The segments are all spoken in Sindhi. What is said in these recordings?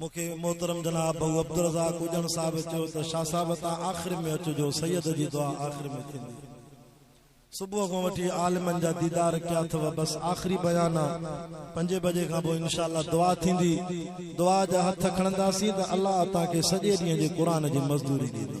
مون کي محترم جناب ڀئو عبدالرزاق اڄڻ صاحب چيو ته شاهه صاحب تان آخر ۾ اچجو سيد جي دعا آخر ۾ ٿيندي صبح کان وٺي عالمن جا ديدار ڪيا اٿئو بس آخري بيان آ پنجين بجي کان پوء انشاء الله دعا ٿيندي دعا جا هٿ کڻنداسين ته الله تان کي سڄي ڏينهن جي قرآن جي مزدوري ڏيندو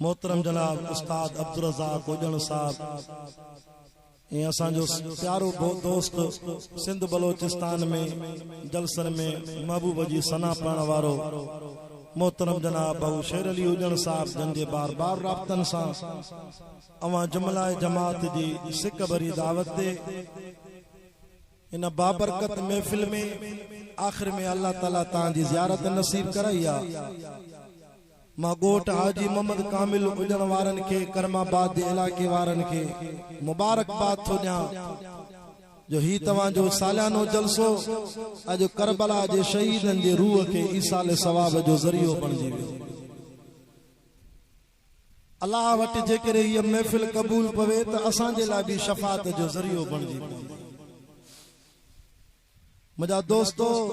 محترم جناب استاد عبدالرزاق اوڄڻ صاحب ۽ اسان جو پيارو دوست سنڌ بلوچستان ۾ جلسن ۾ محبوب جي ثنا پڙهڻ وارو محترم جناب بهو شير علي اوڄڻ صاحب جن جي بار بار رابطن سان اوهان جملائي جماعت جي سڪ ڀري دعوت تي ان بابرڪت محفل ۾ آخر ۾ الله تعالي تان جي زيارت نصيب ڪرائي آ مان ڳوٺ حاجي محمد ڪامل اڄڻ وارن کي ڪرم آباد جي علائقي وارن کي مبارڪباد ٿو ڏيان جو هي توهان جو ساليانو جلسو اڄ ڪربلا جي شهيدن جي روح کي ايصال ثواب جو ذريعو بڻجي ويو. الله وٽ جيڪڏهن هيء محفل قبول پوي ته اسان جي لاء به شفاعت جو ذريعو بڻجي پوندي. منهنجا دوستو،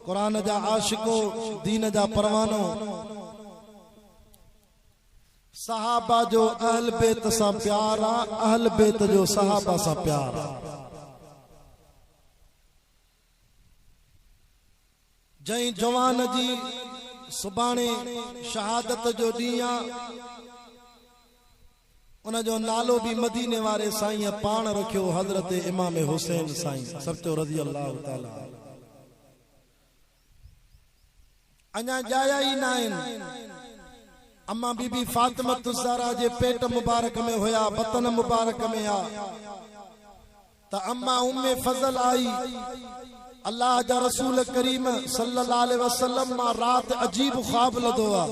قرآن جا عاشقو، دين جا پروانو، صحابه جو اهل بيت سان پيار آ، اهل بيت جو صحابه سان پيار آ. جنهن جوان جي سڀاڻي شهادت جو ڏينهن آ، ان جو نالو به مديني واري سائينء پاڻ رکيو حضرت امام حسين سائين سرچو رضي الله تعالٰي عنه اڃا ڄايا ئي ناهن، اما بي بي فاطمة الزهراء جي پيٽ مبارڪ ۾ هيا، بطن مبارڪ ۾ آ. ته اما ام فضل آئي، الله جا رسول ڪريم صلي الله عليه وسلم مان رات عجيب خواب لڌو آ.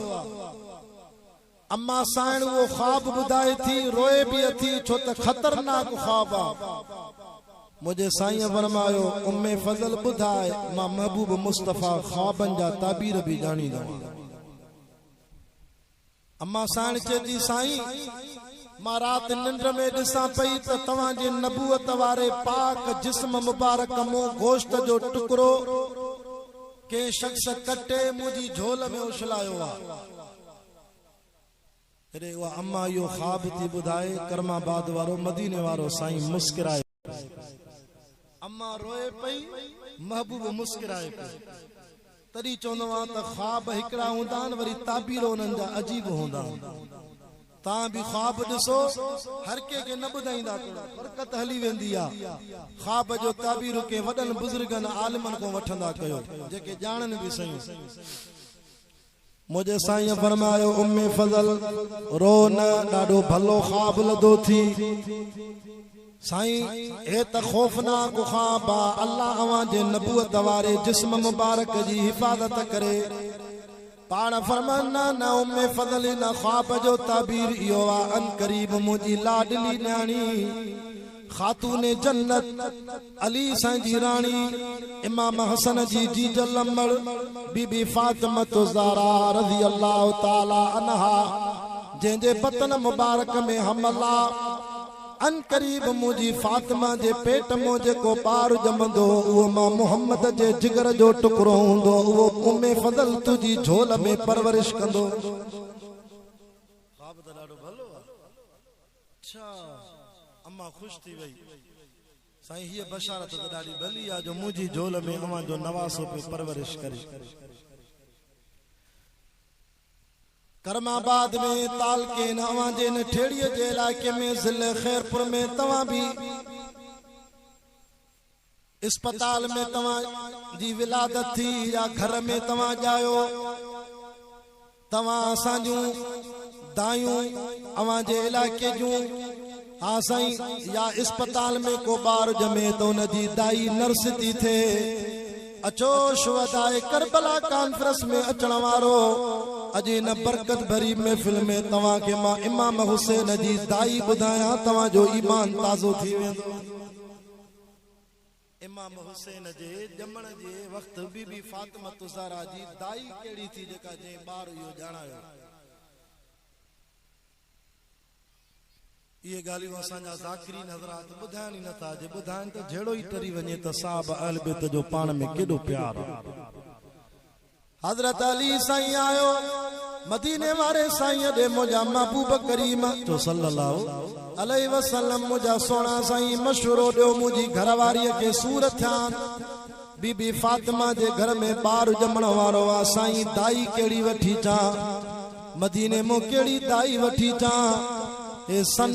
اما سائڻ اهو خواب ٻڌائي ٿي، روئي به اٿي ڇو ته خطرناڪ خواب آ. منهنجي سائينء فرمايو، ام فضل ٻڌاء، مان محبوب مصطفيٰ خوابن جا تعبير به ڄاڻيندو آهيان. امان ساڻ چئي ٿي سائين مان رات ننڊ ۾ ڏسان پئي ته توهان جي نبوت واري پاڪ جسم مبارڪ مون گوشت جو ٽڪرو ڪنهن شخص ڪٽي منهنجي جهول ۾ اڇلايو آ. جڏهن اها امان اهو خواب ٿي ٻڌائي ڪرم آباد وارو مديني وارو سائين مسڪرائي. اما روئي پئي، محبوب مسڪرائي پيو. تڏهن چوندو آهيان ته خواب هڪڙا هوندا آهن وري تعبير انهن جا عجيب هوندا آهن. توهان به خواب ڏسو، هر ڪنهن کي نه ٻڌائيندا ته برڪت هلي ويندي آهي. خواب جو تعبير ڪنهن وڏن بزرگن عالمن کان وٺندا ڪيو، جيڪي ڄاڻن به سهيون. منهنجي سائينء فرمايو، امي فضل! رو نه، ڏاڍو ڀلو خواب لڌو ٿي. سائين! هي ته خوفناڪ خواب آ، الله اوهان جي نبوت واري جسم مبارڪ جي حفاظت ڪري. پاڻ فرمايو، نه نه امي فضل ان خواب جو تعبير اهو آ، عنقريب منهنجي لاڏلي نياڻي، خاتون جنت، علي سائين جي راڻي، امام حسن جي جيج لمڙ بي بي فاطمة الزهراء رضي الله تعالي عنها جنهن جي بطن مبارڪ ۾ حمل آ. عنقريب منهنجي فاطمه جي پيٽ مان جيڪو ٻار ڄمندو اهو مان محمد جي جگر جو ٽڪرو هوندو اهو ام فضل تنهنجي جهول ۾ پرورش ڪندو. اڇا! امان خوش ٿي وئي. سائين هيء بشارت ته ڏاڍي ڀلي آ جو منهنجي جهول ۾ اوهان جو نواسو پيو پرورش ڪري. ڪرم آباد ۾ تعلقي نه اوهان جي ان ٺيڙهي جي علائقي ۾ ضلعي خيرپور ۾ توهان به. اسپتال ۾ توهان جي ولادت ٿي يا گهر ۾ توهان ڄايو، توهان اسان جون دايون اوهان جي علائقي جون، ها سائين، يا اسپتال ۾ ڪو ٻار ڄمي ته ان جي دائي نرس ٿي ٿئي. اچو شهداء ڪربلا ڪانفرنس ۾ اچڻ وارو اڄ هن برڪت ڀري محفل ۾ توهان کي مان امام حسين جي دائي ٻڌايان توهان جو ايمان تازو ٿي ويندو. امام حسين جي ڄمڻ جي وقت بي بي فاطمة الزهراء جي دائي ڪهڙي ٿي جيڪا جنهن ٻار اهو ڄاڻايو؟ اهي ڳالهيون اسان جا ذاڪرين حضرات ٻڌائن ئي نٿا، جي ٻڌائن ته جهيڙو ئي ٽري وڃي ته صاحب اهل بيت جو پاڻ ۾ ڪيڏو پيار آ. حضرت علي سائين آيو مديني واري سائين ڏي منهنجا محبوب ڪريم تو صلي الله عليه وسلم منهنجا سهڻا سائين مشورو ڏيو منهنجي گهر واري کي سور ٿيان بي بي فاطمه جي گهر ۾ ٻار ڄمڻ وارو آ سائين دائي ڪهڙي وٺي چان. مديني مون ڪهڙي دائي وٺي چان. هي سن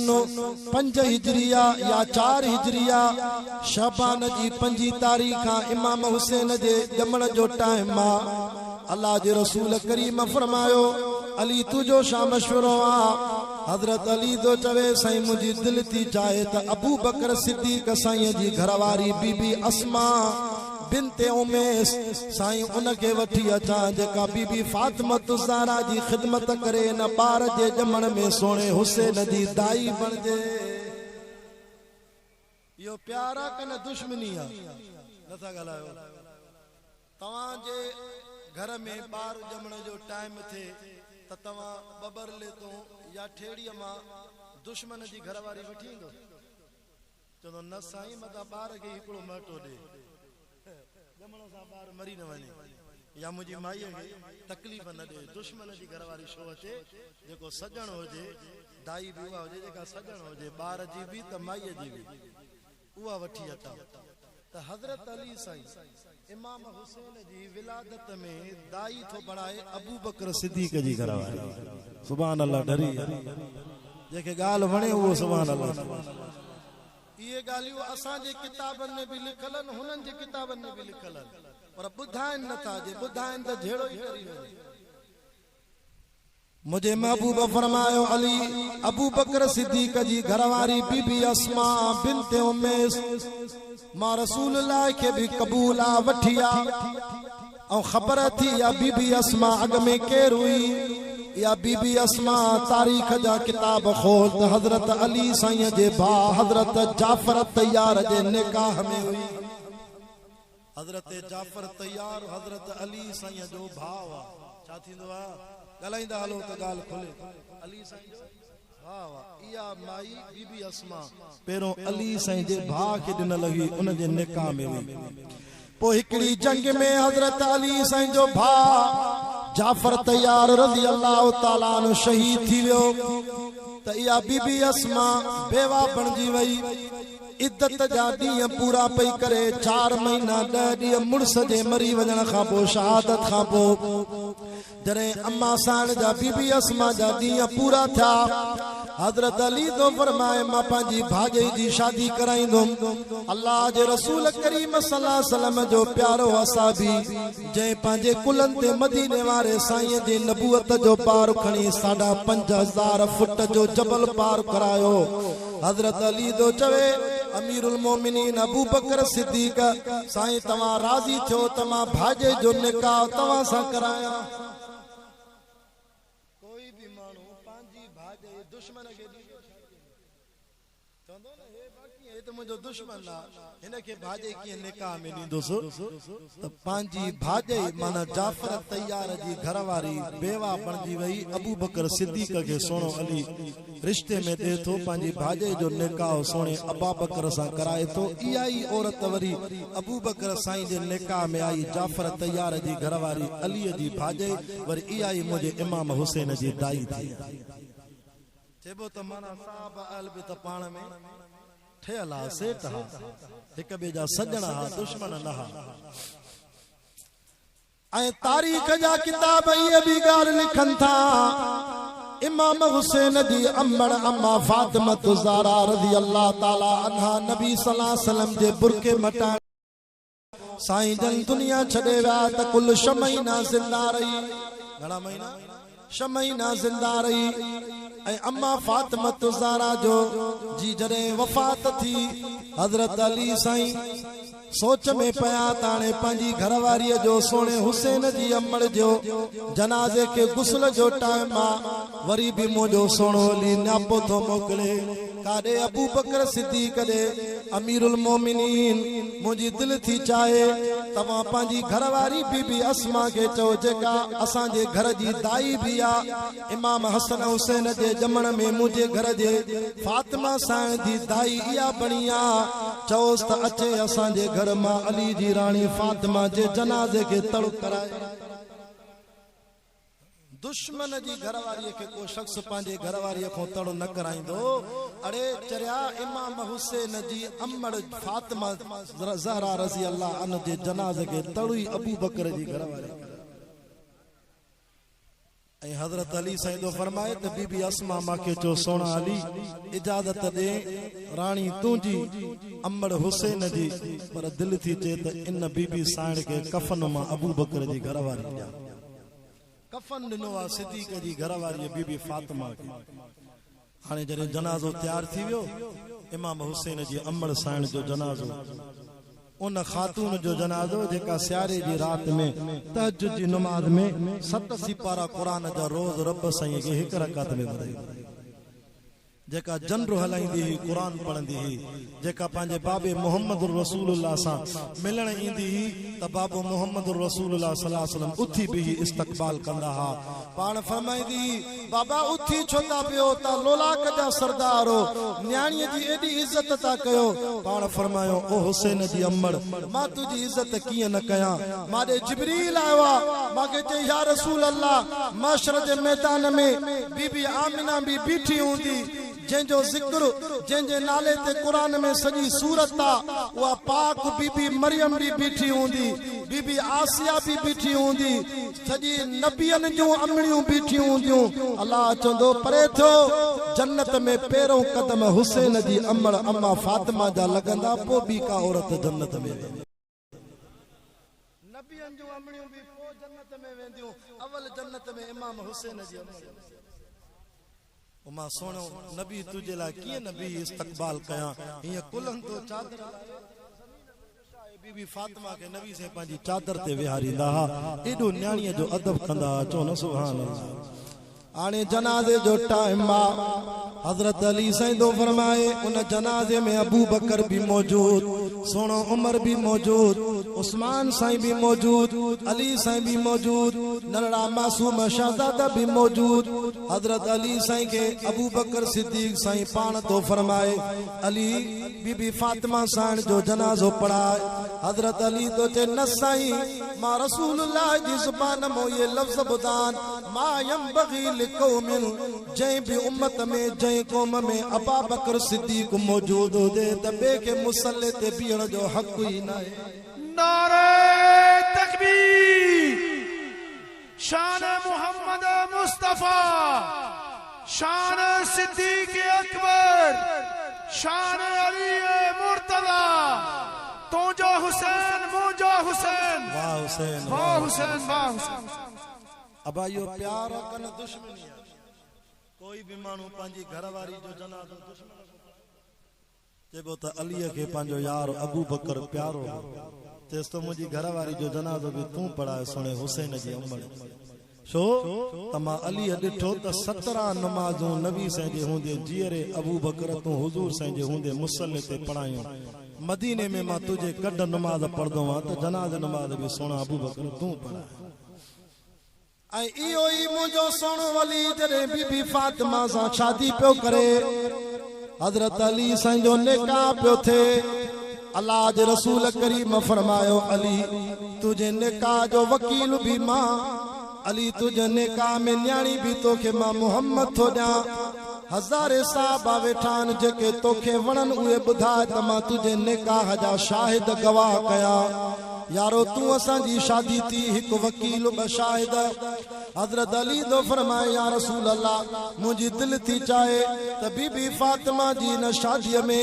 پنج هجريه يا چار هجريه شعبان جي پنجين تاريخ کان امام حسين جي ڄمڻ جو ٽائيم آ. الله جي رسول ڪريم فرمايو، علي تنهنجو شا مشورو آ؟ حضرت علي ٿو چوي، سائين منهنجي دل ٿي چاهي ته ابوبڪر صديق سائين جي گهرواري بي بي اسماء، بنت عميس، سائين ان کي وٺي اچان جيڪا بي بي فاطمة الزهراء جي خدمت ڪري ان ٻار جي ڄمڻ ۾ سهڻي حسين جي دائي بڻجي. اهو پيار آ ڪه نه دشمني آ؟ نه ٿا ڳالهايو. توهان جي گهر ۾ ٻار ڄمڻ جو ٽائيم ٿئي ته توهان ٻٻر ليتون يا ٺيڙهي مان دشمن جي گهر واري وٺي ايندو. چوندو نه سائين مان ته ٻار کي ئي هڪڙو مهٽو ڏي ڄمڻ سان ٻار مري نه وڃي يا منهنجي مائيء کي تڪليف نه ڏي. دشمن جي گهر واري ڇو اچي جيڪو سڄڻ هجي دائي به اها هجي جيڪا سڄڻ هجي ٻار جي به ته مائيء جي به اها وٺي اچان. ته حضرت علي سائين امام حسين جي ولادت ۾ داعي ٿو بڻائي ابوبڪر صديق جي گهر واري سبحان الله ڍري يار جنهن کي ڳالهه وڻي اهو سبحان الله چوي اهي ڳالهيون اسان جي ڪتابن ۾ به لکيل آهن هنن جي ڪتابن ۾ به لکيل آهن پر ٻڌائين نه ٿا جي ٻڌائين ته جهيڙو ئي ڪري وڃن. منهنجي محبوب فرمايو علي ابوبڪر صديق جي گهر واري بي بي اسماء بنت اميس مان رسول الله کي به قبول آ وٺي آ ۽ خبر اٿي اها بي بي اسماء اڳ ۾ ڪير هئي اها بي بي اسماء تاريخ جا ڪتاب کول ته حضرت علي سائين جي ڀاء حضرت جعفر طيار جي نڪاح ۾ هئي حضرت جعفر طيار حضرت علي سائين جو ڀاء هئا. ڇا ٿيندو آ؟ ڳالهائيندا هلو ته ڳالهه کلي. علي سائين جو ڀاء هئا. اها مائي بي بي اسماء پهريون علي سائين جي ڀاء کي ڏنل هئي ان جي نڪاح ۾ هئي. پوء هڪڙي جنگ ۾ حضرت علي سائين جو ڀاء جعفر طيار رضي الله تعالٰي عنه شهيد ٿي ويو ته اها بي بي اسماء بيواه بڻجي وئي. عدت جا ڏينهن پورا پئي ڪري، چار مهينا ڏهه ڏينهن مڙس جي مري وڃڻ کان پوء شهادت کان پوء جڏهن اما سائڻ جا بي بي اسماء جا ڏينهن پورا ٿيا، حضرت علي ٿو فرمائي مان پنهنجي ڀاڄئي جي شادي ڪرائيندم. الله جي رسول ڪريم صلي الله عليه وسلم جو پيارو اصحابي جنهن پنهنجي ڪلهن تي مديني واري سائين جي نبوت جو بار کڻي ساڍا پنج هزار فٽ جو جبل پار ڪرايو، حضرت علي ٿو چوي، امير المومنين ابوبڪر صديق، سائين توهان راضي ٿيو ته مان ڀاڄي جو نڪاح توهان سان ڪرايان. ڪوئي به ماڻهو پنهنجي ڀاڄي دشمن کي ڏيندو ڇا ڏيندو. چوندو نه هي باقي هي ته منهنجو دشمن آ. هن کي ڀاڄي ڪيئن نڪاح ۾ ڏيندس ته پنهنجي ڀاڄي معنيٰ جعفر الطيار جي گهر واري بيوه بڻجي وئي ابوبڪر صديق کي سهڻو علي رشتي ۾ ڏي ٿو پنهنجي ڀاڄي جو نڪاح سهڻي ابابڪر سان ڪرائي ٿو اها ئي عورت وري ابوبڪر سائين جي نڪاح ۾ آئي جعفر الطيار جي گهر واري علي جي ڀاڄي وري اها ئي منهنجي امام حسين جي دائي ٿي چئبو ته معنيٰ صحابه اهل بيت پاڻ ۾ ٿئي الا سيٽ ها، هڪ ٻئي جا سڄڻ ها، دشمن نه ها. ۽ تاريخ جا ڪتاب اهي به ڳالهه لکن ٿا، امام حسين جي امڙ اما فاطمة الزهراء رضي الله تعالٰي عنها نبي صلّي الله عليه وسلّم جي برقعي مٽائڻ. سائين جن دنيا ڇڏي ويا ته ڪل ڇهه مهينا زنده رهي. گهڻا مهينا؟ ڇهه مهينا زنده رهي ۽ اما فاطمة الزهرا جو جي جڏهن وفات ٿي حضرت علي سائين سوچ ۾ پيا ته هاڻي پنهنجي گهر واريء جو سهڻي حسين جي امڙ جو جنازي کي غسل جو ٽائيم آ وري به منهنجو سهڻو علي نياپو ٿو موڪلي. ڪاڏي ابوبڪر صديق ڏي امير المومنين منهنجي دل ٿي چاهي توهان پنهنجي گهر واري بي بي اسماء کي چئو جيڪا اسان جي گهر جي دائي به آ امام حسن حسين جي ڄمڻ ۾ منهنجي گهر جي فاطمه سائڻ جي دائي اها بڻي آ چئوس ته اچي اسان جي گهر مان علي جي راڻي فاطمه جي جنازي کي تڙڪ ڪرائي. دشمن جي گهر واريء کي ڪو شخص پنهنجي گهر واريء کان تڙ نه ڪرائيندو. اڙي چريا امام حسين جي امڙ فاطمه الزهراء رضي الله عنه جي جنازي کي تڙ ئي ابوبڪر جي گهر واريء ڪرائي ۽ حضرت علي سائين ٿو فرمائي ته بي بي اسماء مان کي چئو سهڻا علي اجازت ڏي راڻي تنهنجي امڙ حسين جي پر دل ٿي چئي ته ان بي بي سائڻ کي ڪفن مان ابوبڪر جي گهر واري ڏيان. ڪفن ڏنو آ صديق جي گهر واريء بي بي فاطمه کي. هاڻي جڏهن جنازو تيار ٿي ويو، امام حسين جي امڙ سائڻ جو جنازو، ان خاتون جو جنازو جيڪا سياري جي رات ۾ تهجد جي نماز ۾ ست سيپارا قرآن جا روز رب سائينء کي هڪ رڪعت ۾ ٻڌائيندي هئي. جيڪا جنڊو هلائيندي هئي، قرآن پڙهندي هئي، جيڪا پنهنجي بابي محمد رسول الله سان ملڻ ايندي هئي ته بابو محمد رسول الله صلي الله عليه وسلم اٿي بيهي استقبال ڪندا ها. پاڻ فرمائيندي هئي، بابا اٿي ڇو ٿا بيهو، تان لولاڪ جا سردار هو، نياڻيء جي ايڏي عزت ٿا ڪيو. پاڻ فرمايو، او حسين جي امڙ! مان تنهنجي عزت ڪيئن نه ڪيان. مان ڏي جبريل آيو آ، مان کي چيائين، يا رسول الله! محشر جي ميدان ۾ بي بي آمنه به بيٺي هوندي، جنهن جو ذڪر، جنهن جي نالي تي قرآن ۾ سڄي سورت آ، اها پاڪ بي بي مريم به بيٺي هوندي، بي بي آسيه به بيٺي هوندي، سڄي نبين جون امڙيون بيٺيون هونديون الله چوندو پري ٿيو جنت ۾ پهريون قدم حسين جي امڙ اما فاطمه جا لڳندا پو ٻي ڪا عورت جنت ۾ ويندي. نبين جون امڙيون به پو جنت ۾ وينديون اول جنت ۾ امام حسين جي امڙ ويندي. او مان سهڻو نبي تنهنجي لاء ڪيئن نه بيهي استقبال ڪيان هيئن ڪلهن تون چادر لاهي ته زمين تي ڪشائي بي بي فاطمه کي نبي سائين پنهنجي چادر تي ويهاريندا ها ايڏو نياڻيء جو ادب ڪندا ها چئو نه سبحان الله هاڻي جنازي جو ٽائيم آ حضرت علي سائين ٿو فرمائي ان جنازي ۾ ابوبڪر به موجود سهڻو عمر به موجود عثمان سائين به موجود علي سائين به موجود ننڍڙا معصوم شهزادا به موجود حضرت علي سائين کي ابوبڪر صديق سائين پاڻ ٿو فرمائي علي بي بي فاطمه سائڻ جو جنازو پڙهاء حضرت علي ٿو چئي نه سائين مان رسول الله جي زبان مون اهي لفظ ٻڌان ما ينبغي لقوم جنهن به امت ۾ جنهن قوم ۾ ابابڪر صديق موجود هجي ته ٻئي کي مصلي تي بيهڻ جو حق ئي ناهي. نعري تڪبير. شان محمد مصطفيٰ شان صديق اڪبر شان علي مرتضيٰ تنهنجو حسين منهنجو حسين واھ حسين واھ حسين واھ حسين ابا اهو پيار آ ڪنه دشمني آ ڪوئي به ماڻهو پنهنجي گهر واري جو جنازو دشمن کان پڇائي چئبو ته عليء کي پنهنجو يار ابوبڪر پيارو هو، چيس ته منهنجي گهر واري جو جنازو به تون پڙهاء سهڻي حسين جي امڙ. ڇو ته مان عليء ڏٺو ته سترهن نمازون نبي سين جي هوندي جيئري ابوبڪر تون حضور سين جي هوندي مصلي تي پڙهايون. مديني ۾ مان تنهنجي ڪڍ نماز پڙهندو هئان ته جنازي نماز به سهڻا ابوبڪر تون پڙهاء. ۽ اهو ئي منهنجو سهڻو ولي جڏهن بي بي فاطمه سان شادي پيو ڪري، حضرت علي سائين جو نڪاح پيو ٿئي، الله جي رسول ڪريم فرمايو، علي! تنهنجي نڪاح جو وڪيل به مان، علي! تنهنجي نڪاح ۾ نياڻي به توکي مان محمد ٿو ڏيان. هزارين صحابا ويٺا آهن جيڪي توکي وڻن اهي ٻڌاء ته مان تنهنجي نڪاح جا شاهد گواهه ڪيان يارو تون اسان جي شادي ٿي هڪ وڪيل ٻه شاهد حضرت علي ٿو فرمائي يا رسول الله منهنجي دل ٿي چاهي ته بي بي فاطمه جي ان شادي ۾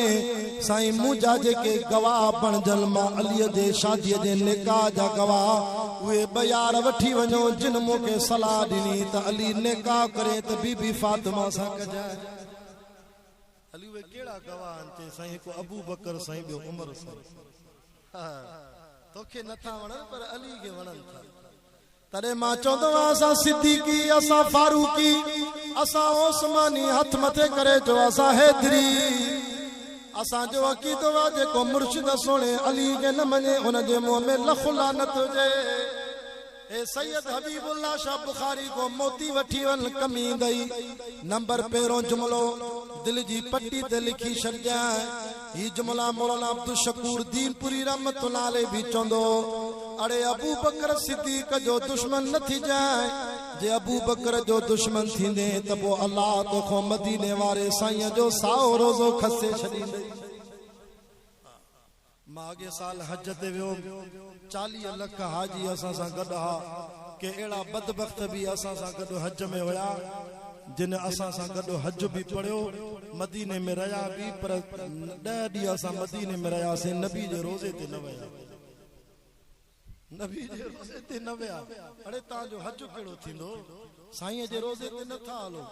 سائين منهنجا جيڪي گواهه بڻجن مان علي جي شادي جي نڪاح جا گواهه اهي ٻه يار وٺي وڃو جن مون کي صلاح ڏني ته علي نڪاح ڪرين ته بي بي فاطمه سان ڪجاء. علي اهي ڪهڙا گواهه آهن؟ چيائين سائين هڪ ابوبڪر سائين ٻيو عمر سائين. ها توکي نه ٿا وڻن پر علي کي وڻن ٿا. تڏهن مان چوندو هئس اسان صديقي، اسان فاروقي، اسان عثماني هٿ مٿي ڪري چو اسان حيدري. اسان جو عقيدو آ جيڪو مرشد سهڻي علي کي نه مڃي ان جي منهن ۾ لک لعنت هجي. اي سيد حبيب الله شاھ بخاري کان موتي وٺي وڃ ڪميندئي نمبر پهريون جملو دل جي پٽي تي لکي ڇڏجانء هي جملا مولانا عبدالشڪور دينپوري رحمة الله عليه به چوندو هو اڙي ابوبڪر صديق جو دشمن نه ٿجانء. جي ابو بڪر جو دشمن ٿيندين ته پوء الله توکون مديني واري سائين جو سائو روزو کسي ڇڏيندئي. مان اڳئين سال حج تي ويو هوم، چاليهه لک حاجي اسان سان گڏ ها، ڪي اهڙا بدبخت به اسان سان گڏ حج ۾ هيا، جن اسان سان گڏ حج به پڙهيو، مديني ۾ رهيا به پر ڏهه ڏينهن اسان مديني ۾ رهياسين نبي جي روزي تي نه وياسين. نبي جي روضي تي نه ويا، اڙي تان جو حج ڪهڙو ٿيندو، سائينء جي روضي تي نه ٿا هلو،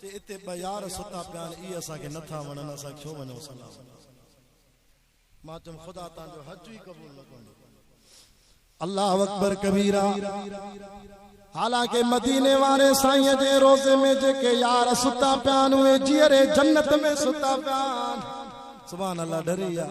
تي اتي ٻه يار ستا پيا آهن، اهي اسان کي نه ٿا وڻن، اسان ڇو وڃون سلام ڪرڻ. مان چيم خدا تان جو حج ئي قبول نه ڪندو. الله اڪبر ڪبيرا، حالانڪه مديني واري سائينء جي روضي ۾ جيڪي يار ستا پيا آهن، اهي جيئري جنت ۾ ستا پيا آهن. سبحان الله ڍري يار.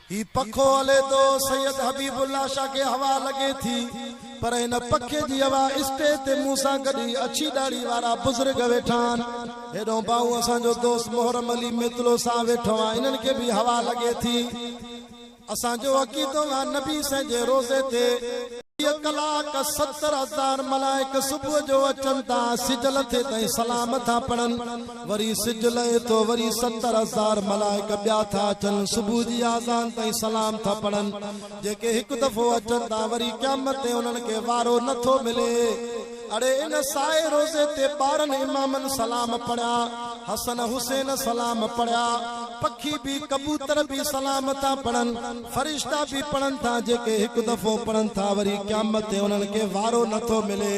هي پکو هلي ٿو، سيد حبيب الله شاهه کي هوا لڳي ٿي، پر هن پکي جي هوا اسٽيج تي مون سان گڏ هي اڇي ڏاڙهي وارا بزرگ ويٺا آهن. هيڏهون ٻانهون اسان جو دوست محرم علي ميتلو سان ويٺو آهي، انهن کي به هوا لڳي ٿي. اسان جو عقيدو آهي نبي سائين جي روضي تي چوويهه ڪلاڪ ستر هزار ملائڪ صبح جو اچن ٿا، سج لٿي تائين سلام ٿا پڙهن. وري سج لھي ٿو وري ستر ھزار ملائڪ ٻيا ٿا اچن صبح جي آذان تائين سلام ٿا پڙھن جيڪي ھڪ دفعو اچن ٿا وري قيامت تي انھن کي وارو نه ٿو ملي اڙي ان سائي روزي تي ٻارھن امامن سلام پڙھيا حسن حسين سلام پڙھيا پکي به ڪبوتر به سلام ٿا پڙھن فرشتا به پڙھن ٿا جيڪي ھڪ دفعو پڙھن ٿا وري قيامت تي انھن کي وارو نه ٿو ملي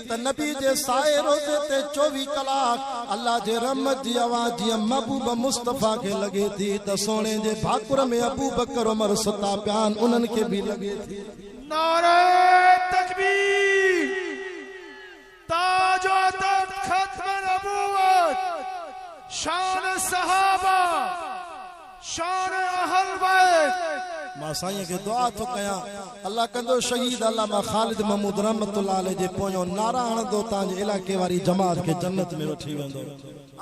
ته نبي جي سائي روضي تي چوويهه ڪلاڪ الله جي رحمت جي هوا جيئن محبوب مصطفيٰ کي لڳي ٿي ته سهڻي جي ڀاڪر ۾ ابوبڪر عمر ستا پيا آهن انهن کي به لڳي ٿي. نعره تڪبير تاج و عتب ختم نبوت شان صحابه. شان اهل بيت. مان سائين کي دعا ٿو ڪيان الله ڪندو شهيد علامه خالد محمود رحمت الله عليه جي پويون نعرا هڻندو تان جي علائقي واري جماعت کي جنت ۾ وٺي ويندو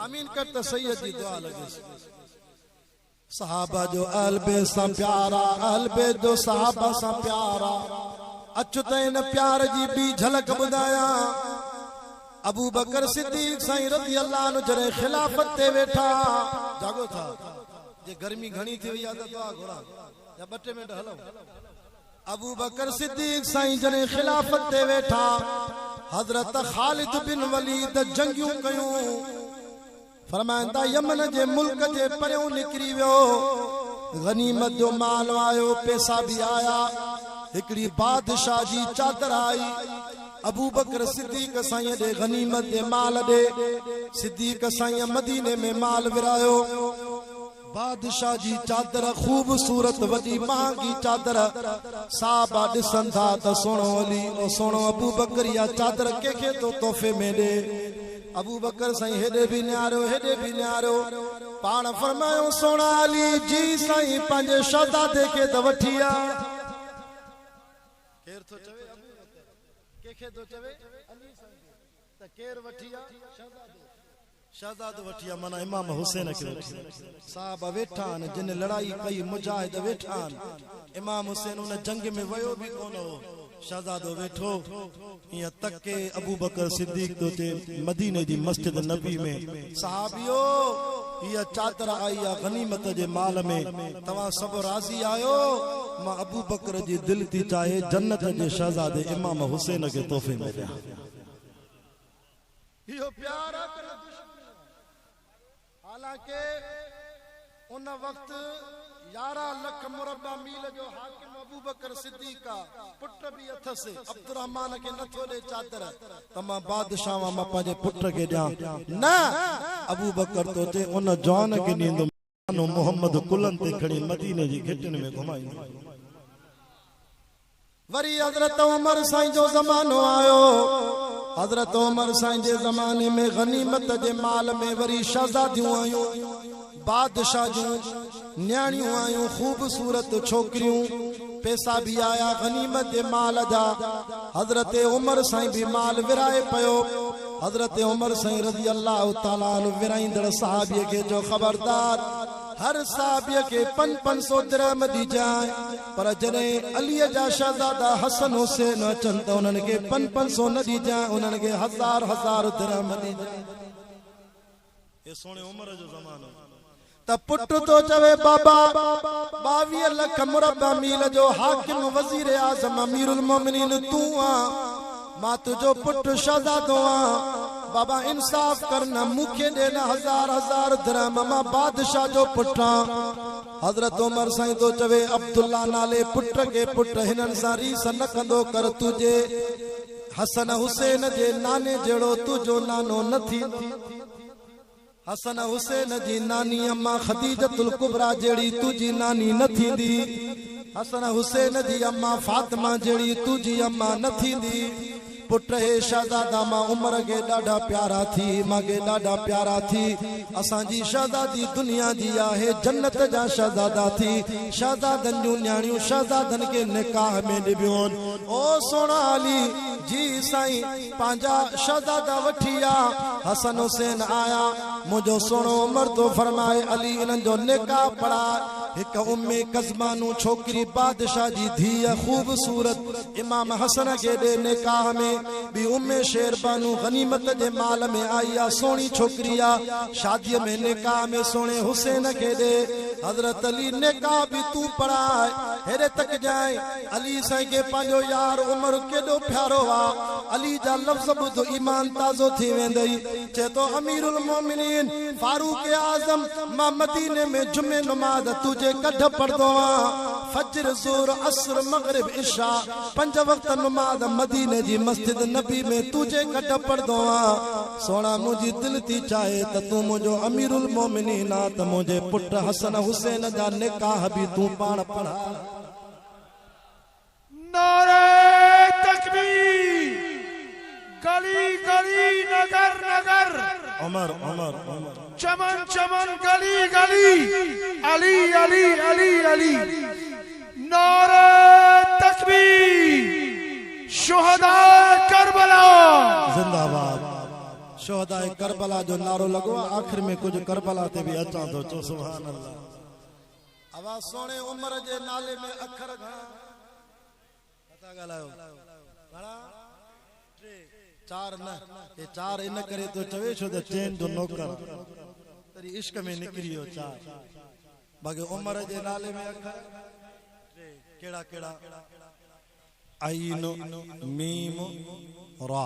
آمين ڪر ته سيد جي دعا لڳيس صحابه جو اهل بيت سان پيار آ اهل بيت جو صحابه سان پيار آ اچ ته ان پيار جي ٻي جهلڪ ٻڌايان. ابوبڪر صديق سائين رضي الله عنه جڏهن خلافت تي ويٺا، جاڳو ٿا جي گرمي گهڻي ٿي وئي آهي ته دعا گهران يا ٻه ٽي منٽ هلئون ابوبڪر صديق سائين جڏهن خلافت تي ويٺا حضرت خالد بن وليد جنگيون ڪيون. فرمائن ٿا، يمن جي ملڪ جي پريون نڪري ويو، غنيمت جو مال آيو، پئسا به آيا، هڪڙي بادشاهه جي چادر آئي، ابوبڪر صديق سائينء ڏي غنيمت جي مال ڏي، صديق سائينء مديني ۾ مال ورهايو. بادشاهه جي چادر خوب صورت وڏي مهانگي چادر صحابه ڏسن ٿا ته سهڻو علي او سهڻو ابوبڪر اها چادر ڪنهن کي ٿو تحفي ۾ ڏي ابوبڪر سائين هيڏي به نهاريو هيڏي به نهاريو پاڻ فرمايو سهڻا علي جي سائين پنهنجي شهزادي کي ته وٺي آ ڪير ٿو چوي ابوبڪر ڪنهن کي ٿو چوي علي سائين کي ته ڪير وٺي آ شهزادي شهزادو وٺي آ معنيٰ امام حسين کي وٺي آ صاحب ويٺا آهن جن لڙائي ڪئي مجاهد ويٺا آهن امام حسين ان جنگ ۾ ويو به ڪونه هو شهزادو ويٺو ايئن تڪي ابوبڪر صديق ٿو چئي مديني جي مسجد نبوي ۾ صحابيو هيء چادر آئي آ غنيمت جي مال ۾ توهان سڀ راضي آهيو مان ابوبڪر جي دل ٿي چاهي جنت جي شهزادي امام حسين کي تحفي ۾ ڏيان اهو پيار آ ڪه نه دشمني آ. حالانڪه ان وقت يارهن لک مربع ميل جو حاڪم ابوبڪر صديق آ، پٽ به اٿس، عبدالرحمان کي نه ٿو ڏي چادر ته مان بادشاهه وان مان پنهنجي پٽ کي ڏيان، نه! ابوبڪر توتي ان جوان کي ڏيندم. نانو محمد ڪلهن تي کڻي مديني جي گهٽين ۾ گهمائيندو هو. وري حضرت عمر سائين جو زمانو آيو. حضرت عمر سائين جي زماني ۾ غنيمت جي مال ۾ وري شهزاديون آيون، بادشاهه جون نياڻيون آيون، خوبصورت ڇوڪريون. پئسا به آيا غنيمت جي مال جا، حضرت عمر سائين به مال ورهائي پيو، حضرت عمر سائين رضي الله تعالٰي عنه ورهائيندڙ صحابي کي چيو خبردار هر صحابي کي پنج پنج سو درهم ڏجانء، پر جڏهن علي جا شهزادا حسن حسين اچن ته انهن کي پنج پنج سو نه ڏجانء، انهن کي هزار هزار درهم ڏجانء. اي سهڻي عمر جو زمانو. ته پٽ ٿو چوي بابا ٻاويهه لک مربع ميل جو حاڪم وزير اعظم امير المومنين تون آن مان تنهنجو پٽ شهزادو آن بابا انصاف ڪر نه مون کي ڏي نه هزار هزار درهم مان بادشاهه جو پٽ آن حضرت عمر سائين ٿو چوي عبدالله نالي پٽ کي پٽ هنن سان ريس نه ڪندو ڪر تنهنجي حسن حسين جي ناني جهڙو تنهنجو نانو نه ٿي. حسن حسين جي ناني امان خديجة الڪبريٰ جهڙي تنهنجي ناني نه ٿيندي. حسن حسين جي امان فاطمه جهڙي تنهنجي امان نه ٿيندي. پٽ هي شهزادا مان عمر کي ڏاڍا پيارا ٿي، امان کي ڏاڍا پيارا ٿي. اسان جي شهزادي دنيا جي آهي، جنت جا شهزادا ٿي. شهزادن جون نياڻيون شهزادن کي نڪاح ۾ ڏبيون. او سهڻا علي جي سائين پنهنجا شهزادا وٺي آ حسن حسين آيا منهنجو سهڻو عمر ٿو فرمائي علي انهن جو نڪاح پڙهاء هڪ ام قزمانو ڇوڪري بادشاهه جي ڌيء خوبصورت امام حسن کي ڏي نڪاح ۾ ٻي ام شيربانو غنيمت جي مال ۾ آئي آ سهڻي ڇوڪري آ شادي ۾ نڪاح ۾ سهڻي حسين کي ڏي حضرت علي نڪاح به تون پڙهاء هيڏي تڪجانء علي سائين کي پنهنجو يار عمر ڪيڏو پيارو آ. علي جا لفظ ٻڌ ايمان تازو ٿي ويندئي. چئي ٿو اميرالمومنين فاروق اعظم مان مديني ۾ جمعي نماز تنهنجي ڪڍ پڙهندو آهيان. فجر، ظهر، عصر، مغرب، عشاء پنج وقت نماز مديني جي مسجد نبي ۾ تنهنجي ڪڍ پڙهندو آهيان. سهڻا منهنجي دل ٿي چاهي ته تون منهنجو اميرالمومنين آ ته منهنجي پٽ حسن حسين جا نڪاح به تون پاڻ پڙهاء. نعري تڪبير گلي گلي نگر نگر عمر عمر عمر چمن چمن گلي گلي علي علي علي علي نعري تڪبير شهداء ڪربلا زنده باد شهداء ڪربلا جو نعرو لڳو آخر ۾ ڪجهه ڪربلا تي به اچان ٿو چو سبحان الله. اوا سهڻي عمر جي نالي ۾ اکر گهڻا نه ٿا ڳالهايو گهڻا ٽي چار نه هي چار ان ڪري ٿو چوي ڇو ته چين جو نوڪر تري عشق ۾ نڪري ويو چار باقي عمر جي نالي ۾ اکر ٽي ڪهڙا ڪهڙا عين ميم را.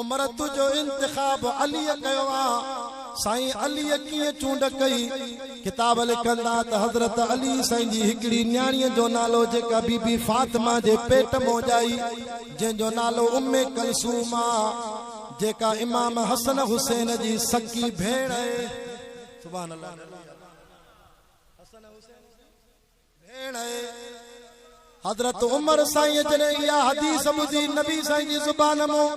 امرت جو انتخاب عليء ڪيو آ، سائين عليء ڪيئن چونڊ ڪئي؟ ڪتاب لکن ٿا ته حضرت علي سائين جي هڪڙي نياڻيء جو نالو جيڪا بي بي فاطمه جي پيٽ مون ڄائي جنهن جو نالو ام ڪلثوم آ جيڪا امام حسن حسين جي سڪي ڀيڻ آهي. ڀيڻ اي حضرت عمر سائين جڏهن اها حديث ٻڌي نبي سائين جي زبان مون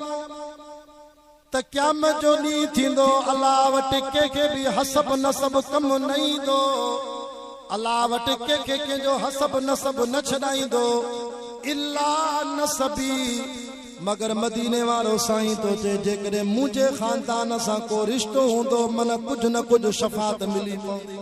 ته قيامت جو ڏينهن ٿيندو الله وٽ ڪنهن کي به حسب نسب ڪم نه ايندو الله وٽ ڪنهن کي ڪنهن جو حسب نسب نه ڇڏائيندو الا نسبي مگر مديني وارو سائين ٿو چئي جيڪڏهن منهنجي خاندان سان ڪو رشتو هوندو من ڪجهه نه ڪجهه شفاعت ملي پوندي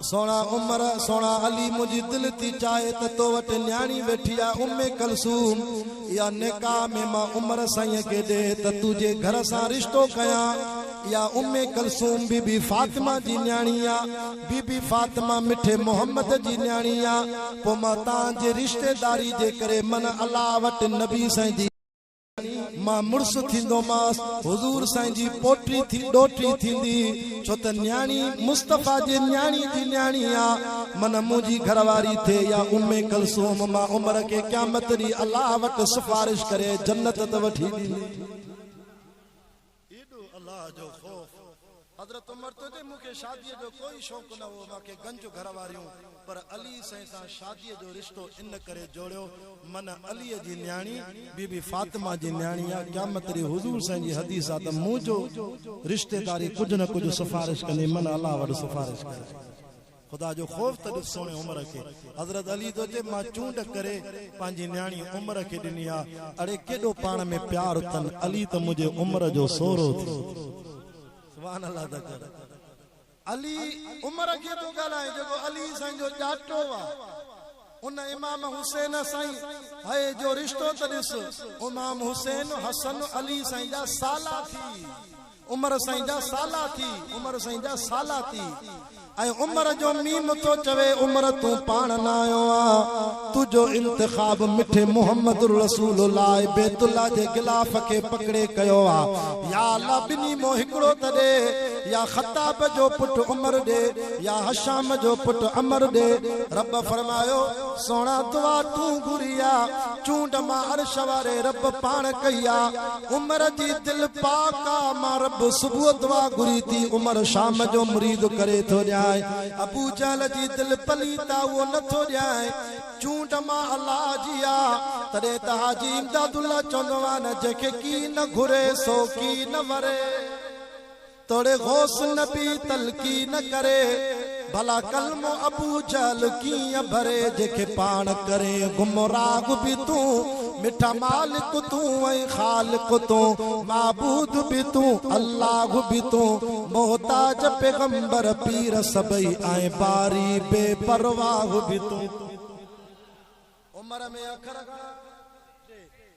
سهڻا عمر سهڻا علي منهنجي دل ٿي چاهي ته تو وٽ نياڻي ويٺي آهي ام ڪلثوم اها نڪاح ۾ مان عمر سائين کي ڏي ته تو جي گهر سان رشتو ڪيان اها ام ڪلثوم بي بي فاطمه جي نياڻي آهي بي بي فاطمه مٺي محمد جي نياڻي آهي پوء مان تان جي رشتيداري جي ڪري من الله وٽ نبي سائين جي مان مڙس ٿيندومانس، حضور سائين جي پوٽي ٿي ڏوهٽي ٿيندي، ڇو ته نياڻي مصطفيٰ جي نياڻي جي نياڻي آ، من منهنجي گهر واري ٿئي يا ام ڪلثوم، مان عمر کي قيامت ڏينهن الله وٽ سفارش ڪري جنت ته وٺي ڏيندي. ايڏو الله جو خوف. حضرت عمر تنهنجي مون کي شاديء جو ڪوئي شوق نه هو، مان کي گنج گهر واريون، پر علي سائين سان شاديء جو رشتو ان ڪري جوڙيو، من عليء جي نياڻي بي بي فاطمه جي نياڻي آ، قيامت ڏينهن حضور سائين جي حديث آ ته مون جو رشتيداري ڪجهه نه ڪجهه سفارش ڪندي، من الله وٽ سفارش ڪري. خدا جو خوف ته ڏس سهڻي عمر کي حضرت علي ٿو چئي مان چونڊ ڪري پنهنجي نياڻي عمر کي ڏني آ اڙي ڪيڏو پاڻ ۾ پيار اٿن علي ته منهنجي عمر جو سهرو ٿي سبحان الله ته ڪر علي عمر کي ٿو ڳالهائي جيڪو علي سائين جو ڄاٽو آ. ان امام حسين سائين هيء جو رشتو ته ڏس، امام حسين، حسن، علي سائين جا سالا ٿي، عمر سائين جا سالا ٿي، عمر سائين جا سالا ٿي ۽ عمر جو ميم ٿو چوي، عمر تون پاڻ نه آيو آهين، تنهنجو انتخاب مٺي محمد رسول الله بيت الله جي غلاف کي پڪڙي ڪيو آهي، يا الله ٻنهي مان هڪڙو ته ڏي. يا خطاب جو پٽ عمر ڏي يا هشام جو پٽ عمر ڏي رب فرمايو سهڻا دعا تون گهري آ چونڊ مان عرش واري رب پاڻ ڪئي آ عمر جي دل پاڪ آ مان رب صبح دعا گهري ٿي عمر شام جو مريد ڪري ٿو ڏيانء ابو جهل جي دل پليت آ اهو نه ٿو ڏيانء چونڊ مان الله جي آ تڏهن ته حاجي امداد الله چوندو آ نه جنهن کي ڪي نه گهري سو ڪي نه وري. توڙي غوث نبي تلقين ڪري، ڀلا ڪلمو ابو جهل ڪيئن ڀري، جنهن کي پاڻ ڪرين گمراهه به تون، مٺا مالڪ تون ۽ خالق تون، معبود به تون الله به تون، محتاج پيغمبر پير سڀئي ۽ باري بي پرواهه به تون. عمر ۾ اکر گهڻا.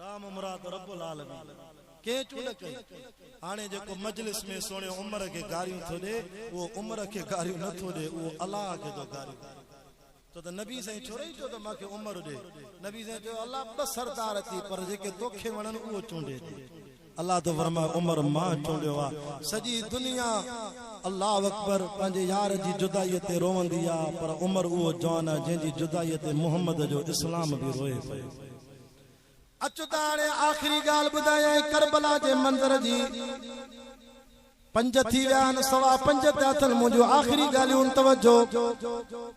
رام مراد رب العالمين ڪنهن چونڊ ڪئي هاڻي جيڪو مجلس ۾ سهڻي عمر کي گاريون ٿو ڏي اهو عمر کي گاريون نه ٿو ڏي اهو الله کي ٿو گاريون ڏي ڇو ته نبي سائين ڇورئي چيو ته مان کي عمر ڏي نبي سائين چيو الله ٻه سردار اٿئي پر جيڪي توکي وڻن اهو چونڊي ڏي الله ٿو فرمائي عمر مان چونڊيو آ سڄي دنيا الله اڪبر پنهنجي يار جي جدائي تي روئندي آ پر عمر اهو جوان آ جنهن جي جدائي تي محمد جو اسلام به روئي پيو اچ ته هاڻي آخري ڳالهه ٻڌايانء ڪربلا جي منظر جي. پنج ٿي ويا آهن، سوا پنج ٿيا اٿن، منهنجون آخري ڳالهيون توجه!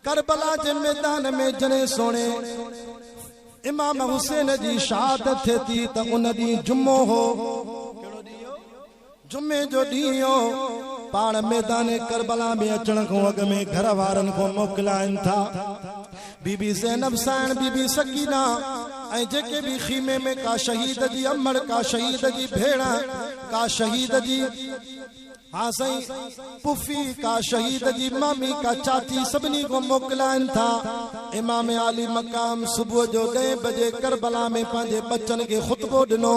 ڪربلا جي ميدان ۾ جڏهن سهڻي امام حسين جي شهادت ٿئي ٿي ته ان ڏينهن جمعو هو. جمعي جو ڏينهن هو، پاڻ ميدان ڪربلا ۾ اچڻ کان اڳ ۾ گهر وارن کان موڪلائين ٿا. بي بي زينب سانئڻ، بي بي سڪينه ۽ جيڪي به خيمي ۾ ڪا شهيد جي امڙ، ڪا شهيد جي ڀيڻ، ڪا شهيد جي ها سائين پڦي، ڪا شهيد جي مامي، ڪا چاچي سڀني کان موڪلائين ٿا. امام عالي مقام صبح جو ڏهين بجي ڪربلا ۾ پنهنجي ٻچن کي خطبو ڏنو.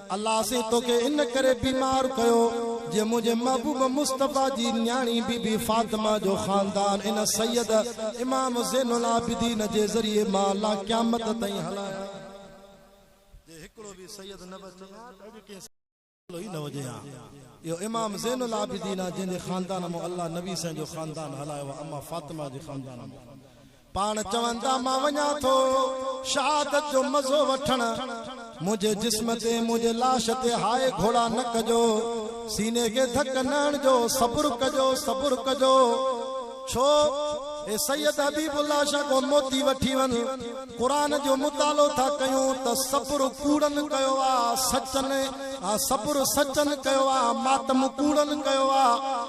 الله سين توکي ان ڪري بيمار ڪيو جي منهنجي محبوب مصطفي جي نياڻي بي بي فاطمه جو خاندان ان سيد امام زين العابدين جي ذريعي مان الله قيامت تائين هلائي جي هڪڙو به سيد نه بچي ها ته اڄ ڪنهن سيد جو نالو ئي نه هجي ها اهو امام زين العابدين آ جنهن جي خاندان مان الله نبي سائين جو خاندان هلايو آ اما فاطمه جي خاندان مان پاڻ چون ٿا مان وڃان ٿو شهادت جو مزو وٺڻ، منهنجي جسم تي، منهنجي لاش تي هاء گهوڙا نه ڪجو، سيني کي ڌڪ نه هڻجو، صبر ڪجو، صبر ڪجو. ڇو؟ اي سيد حبيب الله شاهه ڪو موتي وٺي وڃ، قرآن جو مطالعو ٿا ڪيون ته صبر ڪوڙن ڪيو آ، سچن آ صبر سچن ڪيو آ، ماتم ڪوڙن ڪيو آ.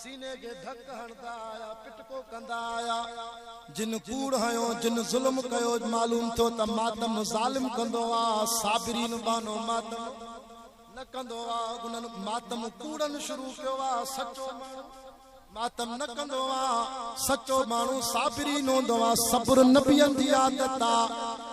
سيني کي ڌڪ هڻندا آيا، پٽڪو ڪندا آيا، جن ڪوڙ هنيو، جن ظلم ڪيو، معلوم ٿيو ته ماتم ظالم ڪندو آ، صابرين ٻانهو ماتم نه ڪندو آ، انهن ماتم ڪوڙن شروع ڪيو آ، سچو ماڻهو ماتم نه ڪندو آ، سچو ماڻهو صابرين هوندو آ، صبر نبين جي عادت آ.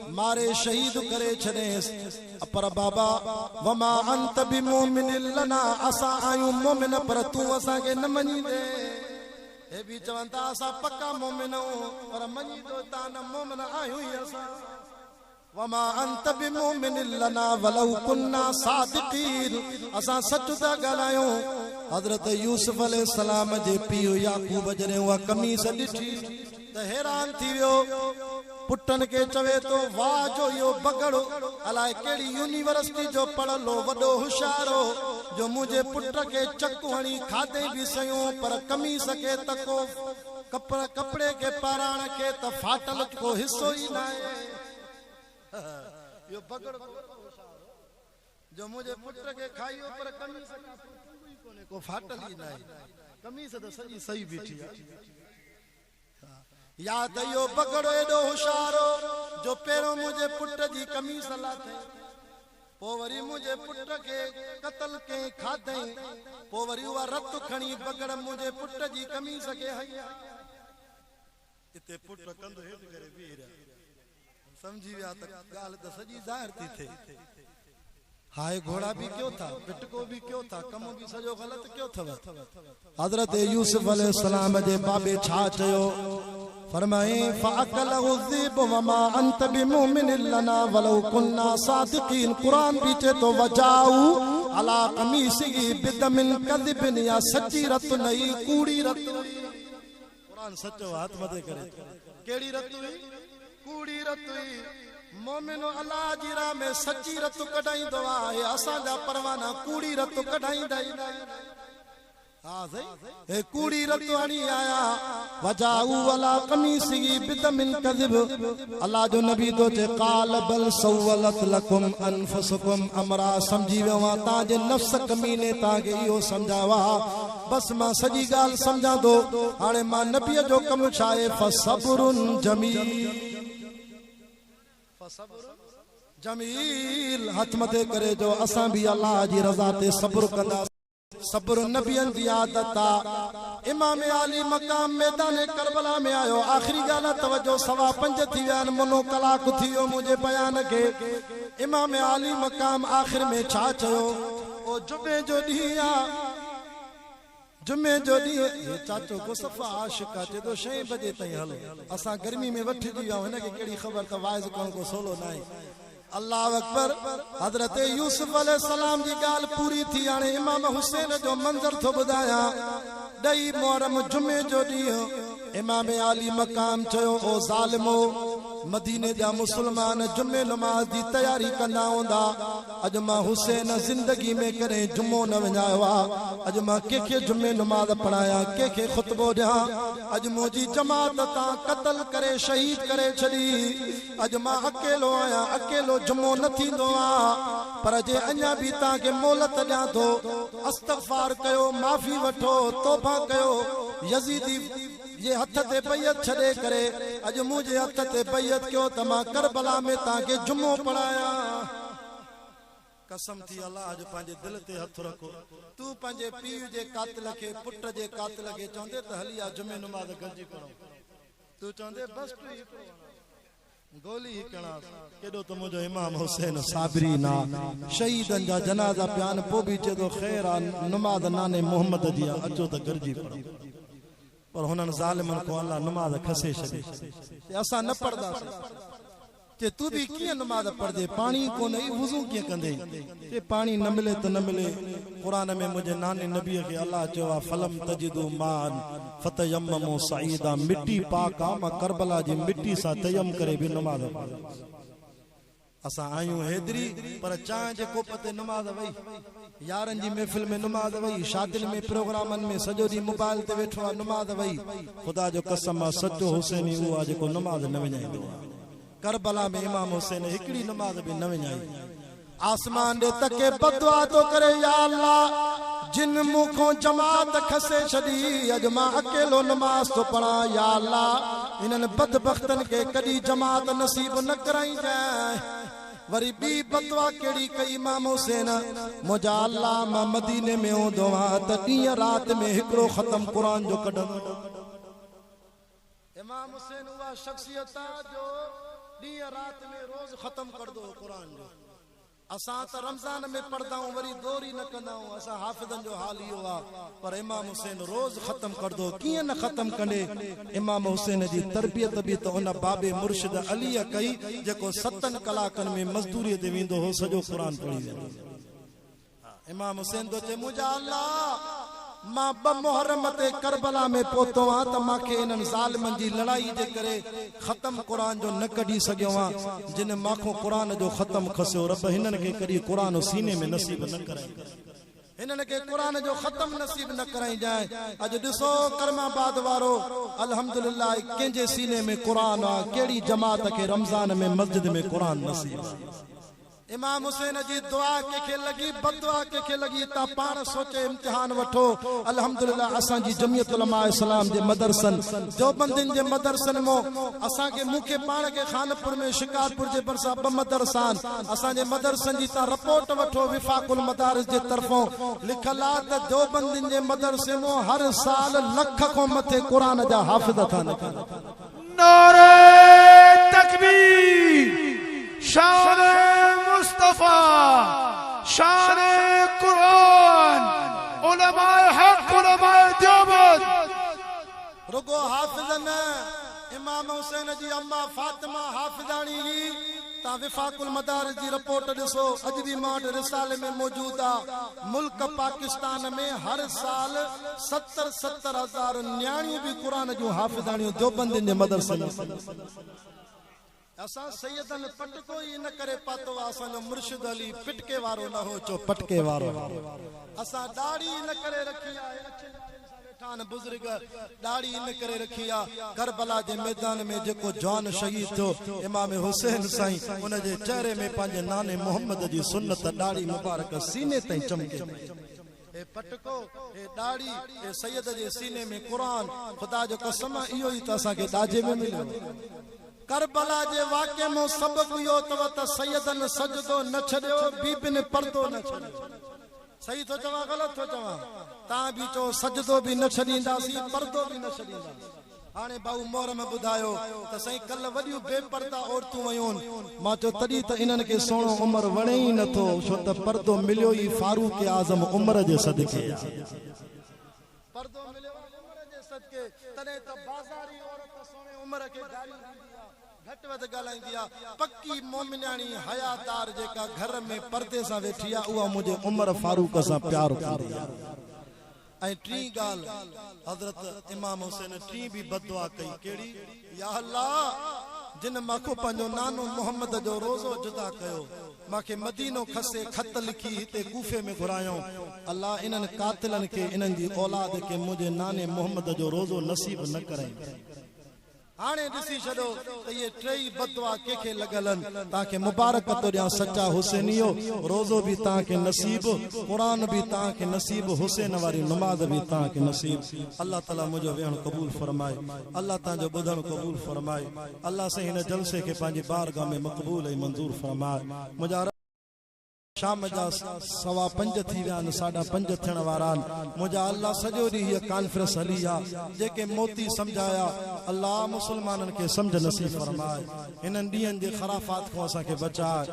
ماري شهيد ڪري ڇڏيس پر بابا وما انت بمومن لنا اسان آهيون مومن پر تون اسان کي نه مڃيندي هي به چون ٿا اسان پڪا مومن آهيون پر مڃي ٿو تان نه مومن آهيون ئي اسان وما انت بمومن لنا ولو كنا صادقين اسان سچ ٿا ڳالهايون حضرت يوسف عليه السلام جي پيء يعقوب جڏهن اها قميص ڏٺي ته حيران ٿي ويو. پٽن کي چوي ٿو، واهه جو اهو بگهڙو الاء ڪهڙي يونيورسٽي جو پڙهيل هو، وڏو هوشيار هو، جو منهنجي پٽ کي چڪ هڻي کاڌئين به سيون، پر قميص کي ته ڪو ڪپڙي کي پهراڻ کي ته ڦاٽل ڪو حصو ئي ناهي. اهو بگهڙو ته وڏو هوشيار هو، جو منهنجي پٽ کي کائيو، پر قميص کان سواء ڪنگهو ئي ڪونهي، ڪو ڦاٽل ئي ناهي. قميص ته سڄي سئي بيٺي آهي. يا ته اهو بگهڙو ايڏو هوشيار هو جو پهريون منهنجي پٽ جي قميص لاٿي، پوء وري منهنجي پٽ کي قتل ڪئين کاڌئين، پوء وري اها رت کڻي بگهڙ منهنجي پٽ جي قميص کي هنئي ها. اتي پٽ ڪنڌ هيٺ ڪري بيهي رهيا. سمجهي ويا ته ڳالهه ته سڄي ظاهر ٿي ٿئي. هاء گهوڙا به ڪيو ٿا، ٻٽڪو به ڪيو ٿا، ڪم به سڄو غلط ڪيو اٿو. حضرت يوسف عليه السلام جي بابي ڇا چيو؟ فرمايائين، فاڪله الذئب وما انت بمؤمن لنا ولو ڪنا صادقين قرآن به چئي ٿو وجاءوا علي قميصه بدم ڪذب يا سچي رت نه هئي ڪوڙي رت هئي. قرآن سچو هٿ مٿي ڪري ٿو. ڪهڙي رت هئي؟ ڪوڙي رت هئي. مومنو الله جي راهه ۾ سچي رت ڪڍائيندو آهي. اسان جا پروانا ڪوڙي رت ڪڍائيندا ئي ناهن. ها سائين هي ڪوڙي رت هڻي آيا. وجاءوا علي قميصه بدم ڪذب الله جو نبي ٿو چئي قال بل سولت لڪم انفسڪم امرا سمجهي ويو آهيان توهان جي نفس ڪميني توهان کي اهو سمجهايو آهي بس مان سڄي ڳالهه سمجهان ٿو. هاڻي مان نبيء جو ڪم ڇا آهي؟ فصبر جميل هٿ مٿي ڪري چئو اسان به الله جي رضا تي صبر ڪنداسين. صبر نبين جي عادت آ. امام عالي مقام ميدان ڪربلا ۾ آيو آخري ڳالهه توجه سوا پنج ٿي ويا آهن منو ڪلاڪ ٿي ويو منهنجي بيان کي امام عالي مقام آخر ۾ ڇا چيو. او جمعي جو ڏينهن آ جمعي جو ڏينهن هي چاچو ڪو صفا عاشق آ چئي ٿو شئين بجي تائين هل اسان گرمي ۾ وٺجي ويا آهيون هن کي ڪهڙي خبر ته واعظ ڪرڻ ڪو سولو ناهي الله اڪبر حضرت يوسف عليه السلام جي ڳالهه پوري ٿي هاڻي امام حسين جو منظر ٿو ٻڌايان ڏهي محرم جمعي جو ڏينهن امام عالي مقام چيو، او ظالمو! مديني جا مسلمان جمعي نماز جي تياري ڪندا هوندا، اڄ مان حسين زندگي ۾ ڪڏهن جمعو نه وڃايو آ، اڄ مان ڪنهن کي جمعي نماز پڙهايان، ڪنهن کي خطبو ڏيان، اڄ منهنجي جماعت تان قتل ڪري شهيد ڪري ڇڏي، اڄ مان اڪيلو آهيان، اڪيلو جمعو نه ٿيندو آ. پر جي اڃا به توهان کي مهلت ڏيان ٿو استغفار ڪيو معافي وٺو توبه ڪيو يزيدي جي هٿ تي بيعت ڇڏي ڪري اڄ منهنجي هٿ تي بيعت ڪيو ته مان ڪربلا ۾ توهان کي جمعو پڙهايان. قسم ٿي الله جو پنهنجي دل تي هٿ رکو تون پنهنجي پيء جي قاتل کي پٽ جي قاتل کي چوندي ته هلي آ جمعي نماز گڏجي پڙهون تون چوندي بس ٽوهي پيو وڃان. گولي هي ڪڻاس ڪيڏو ته منهنجو امام حسين صابري نا شهيدن جا جنازا پيان پو به چي ٿو خير آ نماز ناني محمد جي آ اچو ته گڏجي پڙهون پر هنن ظالمن کون الله نماز کسي ڇڏي چي اسان نه پڙهنداسين چي تو به ڪيئن نماز پڙهندي پاڻي ئي ڪونهي وضو ڪيئن ڪندي جي پاڻي نه ملي ته نه ملي، قرآن ۾ منهنجي ناني نبي کي الله چيو آهي فلم تجدو ماء فتيممو صعيدا مٽي پاڪ آ مان ڪربلا جي مٽي سان تيمم ڪري به نماز پڙهندس اسان آهيون حيدري پر چانهه جي ڪوپ تي نماز وئي يارن جي محفل ۾ نماز وئي شادين ۾ پروگرامن ۾ سڄو ڏينهن موبائل تي ويٺو آ نماز وئي خدا جو قسم آ سچو حسيني اهو آ جيڪو نماز نه وڃائيندو آ. ڪربلا ۾ امام حسين هڪڙي نماز به نه وڃائي. آسمان ڏي تڪي بدعا ٿو ڪري، يا الله! جن مون کان جماعت کسي ڇڏي، اڄ مان اڪيلو نماز ٿو پڙهان، يا الله! انهن بدبختن کي ڪڏهن جماعت نصيب نه ڪرائينجانء. وري ٻي بدعا ڪهڙي ڪئي امام حسين، منهنجا الله! مان مديني ۾ هوندو هان ته ڏينهن رات ۾ هڪڙو ختم قرآن جو ڪڍندو هان. امام حسين اها شخصيت آ جو ڏينهن رات ۾ روز ختم ڪرندو هو قرآن جو اسان ته رمضان ۾ پڙهدائون وري دور ئي نه ڪندائون اسان حافظن جو حال اهو آ پر امام حسين روز ختم ڪرندو هو ڪيئن نه ختم ڪندي امام حسين جي تربيت به ته ان بابي مرشد علي ڪئي جيڪو ستن ڪلاڪن ۾ مزدوري تي ويندو هو سڄو قرآن پڙهي ويندو هو. امام حسين ٿو چئي منهنجا الله مان ٻه محرم تي ڪربلا ۾ پهتو هان ته مان کي انهن ظالمن جي لڙائي جي ڪري ختم قرآن جو نه ڪڍي سگهيو هان جن مانکون قرآن جو ختم کسيو رب هنن کي ڪڏهن قرآن سيني ۾ نصيب نه ڪرائينجانء. هنن کي قرآن جو ختم نصيب نه ڪرائينجانء اڄ ڏسو ڪرم آباد وارو الحمدلله ڪنهن جي سيني ۾ قرآن آ ڪهڙي جماعت کي رمضان ۾ مسجد ۾ قرآن نصيب آ. امام حسين جي دعا ڪنهن کي لڳي بددعا ڪنهن کي لڳي تان پاڻ سوچي امتحان وٺو الحمدلله اسان جي جمعيت علماء اسلام جي مدرسن ديوبندين جي مدرسن مون اسان کي مون کي پاڻ کي خانپور ۾ شڪارپور جي ڀرسان ٻه مدرسا آهن اسان جي مدرسن جي تان رپورٽ وٺو وفاق المدارس جي طرفون لکيل آهي ته ديوبندين جي مدرسي مون هر سال لک کان مٿي قرآن جا حافظ ٿا نڪرن. نعري تڪبير شان مصطفيٰ شان قرآن علماء حق علماء ديوبند رڳو حافظ نه امام حسين جي اما فاطمه حافظاڻي هئي تان وفاق المدارس جي رپورٽ ڏسو اڄ به مان وٽ رسالي ۾ موجود آ ملڪ پاڪستان ۾ هر سال ست ستر ستر هزار نياڻيون به قرآن جون حافظاڻيون ديوبندين جي مدرسن ۾ پڙهي سگهن ٿيون. اسان سيدن پٽڪو ئي ان ڪري پاتو آهي اسان جو مرشد علي پٽڪي وارو نه هو جو پٽڪي وارو هو. اسان ڏاڙهي ان ڪري رکي آهي اڇي ڏاڙهين سان ويٺا آهن بزرگ ڏاڙهي ان ڪري رکي آ ڪربلا جي ميدان ۾ جيڪو جوان شهيد ٿيو امام حسين سائين ان جي چهري ۾ پنهنجي ناني محمد جي سنت ڏاڙهي مبارڪ سيني تائين چمڪي پئي. اي پٽڪو، اي ڏاڙهي، اي سيد جي سيني ۾ قرآن، خدا جو قسم آ اهو ئي ته اسان کي ڏاجي ۾ مليو هو. ڪربلا جي واقعي مون سبق اهو اتو ته سيدن سجدو نه ڇڏيو، بيبين پردو نه ڇڏيو. صحيح ٿو چوان غلط ٿو چوان؟ تان به چئو سجدو به نه ڇڏينداسين، پردو به نه ڇڏينداسين. هاڻي ڀائو محرم ٻڌايو ته سائين ڪلهه وڏيون بي پرده عورتون ويون مان چيو تڏهن ته انهن کي سهڻو عمر وڻي ئي نه ٿو ڇو ته پردو مليو ئي فاروق اعظم عمر جي صدقي آ پردو مليو آ عمر جي صدقي تڏهن ته بازاري عورت ته سهڻي عمر کي گاريون ڏيندي آ گهٽ وڌ ڳالهائيندي آ پڪي مومنياڻي حيا دار جيڪا گهر ۾ پردي سان ويٺي آ اها منهنجي عمر فاروق سان پيار ڪندي آ ۽ ٽين ڳالهه حضرت امام حسين ٽين به بددعا ڪئي ڪهڙي؟ يا الله! جنھن مان کون پنھنجو نانو محمد جو روضو جدا ڪيو، مان کي مدينو کسي خط لکي هتي ڪوفي ۾ گهرايئون، الله انھن قاتلن کي انھن جي اولاد کي منھنجي ناني محمد جو روضو نصيب نه ڪرئين. هاڻي ڏسي ڇڏو ته اهي ٽيئي بددعا ڪنهن کي لڳل آهن. توهان کي مبارڪ ٿو ڏيان سچا حسينيو، روزو به توهان کي نصيب، قرآن به توهان کي نصيب، حسين واري نماز به توهان کي نصيب. الله تعالي منهنجو ويهڻ قبول فرمائي. الله توهان جو ٻڌڻ قبول فرمائي. الله سائين هن جلسي کي پنهنجي بارگاهه ۾ مقبول ۽ منظور فرمائي. منهنجا عرض. شام جا سوا پنج ٿي ويا آهن، ساڍا پنج ٿيڻ وارا آهن، منهنجا الله سڄو ڏينهن هيء ڪانفرنس هلي ها، جيڪي موتي سمجهايا، الله مسلمانن کي سمجهه نصيب فرماء، هنن ڏينهن جي خرافات کان اسان کي بچاء.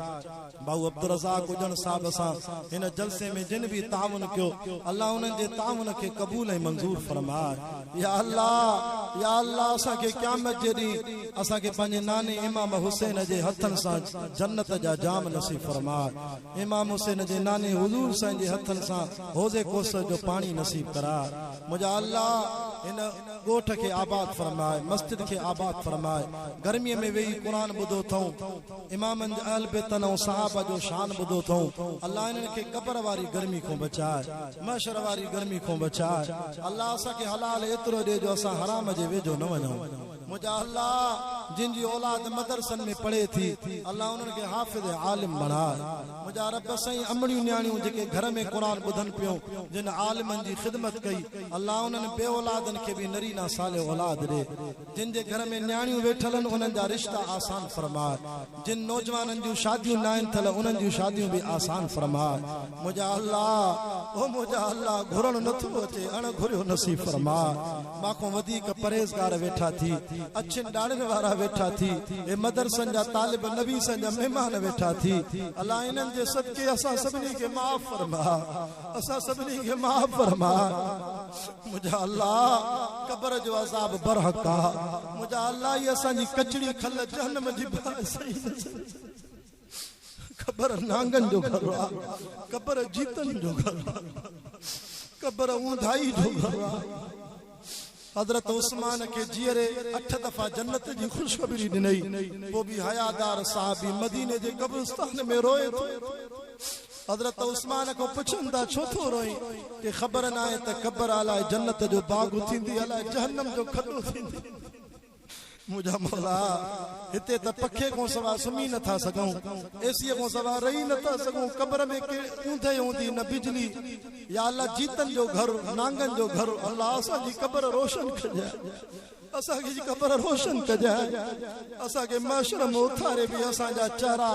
ڀائو عبدالرزاق اڄڻ صاحب سان هن جلسي ۾ جن به تعاون ڪيو، الله انهن جي تعاون کي قبول ۽ منظور فرماء. يا الله يا الله اسان کي قيامت جي ڏينهن. اسان کي پنهنجي ناني امام حسين جي هٿن سان جنت جا جام نصيب فرماء امام حسين جي ناني حضور سائين جي هٿن سان حوض ڪوثر جو پاڻي نصيب ڪراء منهنجا الله هن ڳوٺ کي آباد فرماء مسجد کي آباد فرماء گرمي ۾ ويهي قرآن ٻڌو اٿئون امامن جي اهل بيتن ۽ صحابه جو شان ٻڌو اٿئون الله انهن کي قبر واري گرمي کان بچاء محشر واري گرمي کان بچاء الله اسان کي حلال ايترو ڏي جو اسان حرام جي ويجهو نه وڃون منهنجا الله جن جي اولاد مدرسن ۾ پڙهي ٿي الله انهن کي حافظ عالم بڻاء منهنجا رب سائين امڙيون نياڻيون جيڪي گهر ۾ قرآن ٻڌن پيون جن عالمن جي خدمت ڪئي الله انهن بي اولادن کي به نرينا صالح اولاد ڏي جن جي گهر ۾ نياڻيون ويٺل آهن انهن جا رشتا آسان فرماء جن نوجوانن جون شاديون ناهن ٿيل انهن جون شاديون به آسان فرماء منهنجا الله او منهنجا الله گهرڻ نه ٿو اچي اڻ گهريو نصيب فرماء مان کون وڌيڪ پرهيزگار ويٺا ٿي اڇين ڏاڙهين وارا ويٺا ٿي اي مدرسن جا طالب نبي سان جا مهمان ويٺا ٿي الله انهن جي صدقي اسان سڀني کي معاف فرماء اسان سڀني کي معاف فرما منهنجا الله قبر جو عذاب برحق آ منهنجا الله هي اسان جي ڪچڙي کل جهنم جي باعث قبر نانگن جو گهر آ قبر جيتن جو گهر آ قبر اونداهي جو گهر آ حضرت عثمان کي جيئري اٺ دفعا جنت جي خوشخبري ڏنئي پوء به حيادار صحابي مديني جي قبرستان ۾ روئي ٿو. حضرت عثمان کان پڇن ٿا ڇو ٿو روئين؟ کي خبر ناهي ته قبر الاء جنت جو باغ ٿيندي الاء جهنم جو کڏو ٿيندي. منهنجا مولا! هتي ته پکي کان سوا سمهي نه ٿا سگهون، اي سيء کان سوا رهي نه ٿا سگهون، قبر ۾ ڪي اوندهه هوندي نه بجلي، يا الله جيتن جو گهر، نانگن جو گهر، الله اسان جي قبر روشن ڪجانء، اسان جي قبر روشن ڪجانء، اسان کي محشر ۾ اٿاري به اسان جا چهرا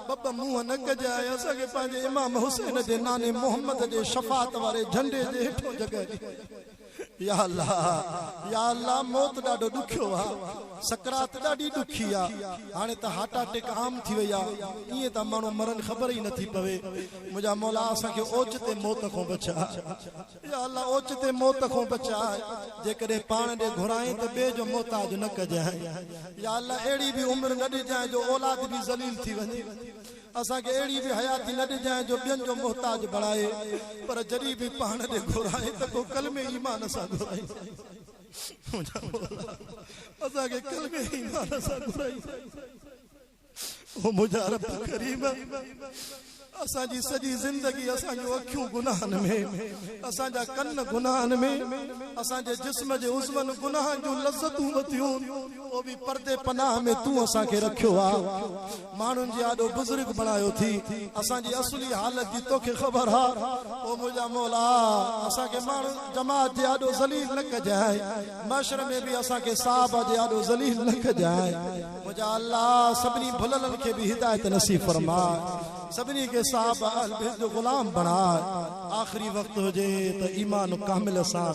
ٻه ٻه منهن نه ڪجانء، اسان کي پنهنجي امام حسين جي ناني محمد جي شفاعت واري جهنڊي جي هيٺون جڳهه ڏينء. يا الله يا الله موت ڏاڍو ڏکيو آ سڪرات ڏاڍي ڏکي آ هاڻي ته هارٽ اٽيڪ عام ٿي وئي آ ائين ٿا ماڻهو مرن خبر ئي نٿي پوي منهنجا مولا اسان کي اوچتي موت کون بچاء يا الله اوچتي موت کون بچاء جيڪڏهن پاڻ ڏي گهرائين ته ٻئي جو محتاج نه ڪجانء يا الله اهڙي به عمر نه ڏجانء جو اولاد به ذليل ٿي وڃي اسان کي اهڙي به حياتي نه ڏجانء جو ٻين جو محتاج بڻائي، پر جڏهن به پاڻ ڏي گهرائين ته ڪو ڪلمي ايمان سان گهرائين. منهنجا مولا! اسان کي ڪلمي ايمان سان گهرائين. او منهنجا رب ڪريم! اسان جي سڄي زندگي، اسان جون اکيون گناهن ۾، اسان جا ڪن گناهن ۾، اسان جي جسم جي عضون گناهن جون لذتون ٻڌيون، پوء به پردي پناهه ۾ تون اسان کي رکيو آهي. ماڻهن جي آڏو بزرگ بڻايو ٿي اسان جي اصلي حالت جي توکي خبر آ او منهنجا مولا اسان کي ماڻهن جماعت جي آڏو ذليل نه ڪجانء محشر ۾ به اسان کي صحابه جي آڏو ذليل نه ڪجانء منهنجا الله سڀني ڀللن کي به هدايت نصيب فرماء سڀني کي صحابه اهل بيت جو غلام بڻاء آخري وقت هجي ته ايمان ڪامل سان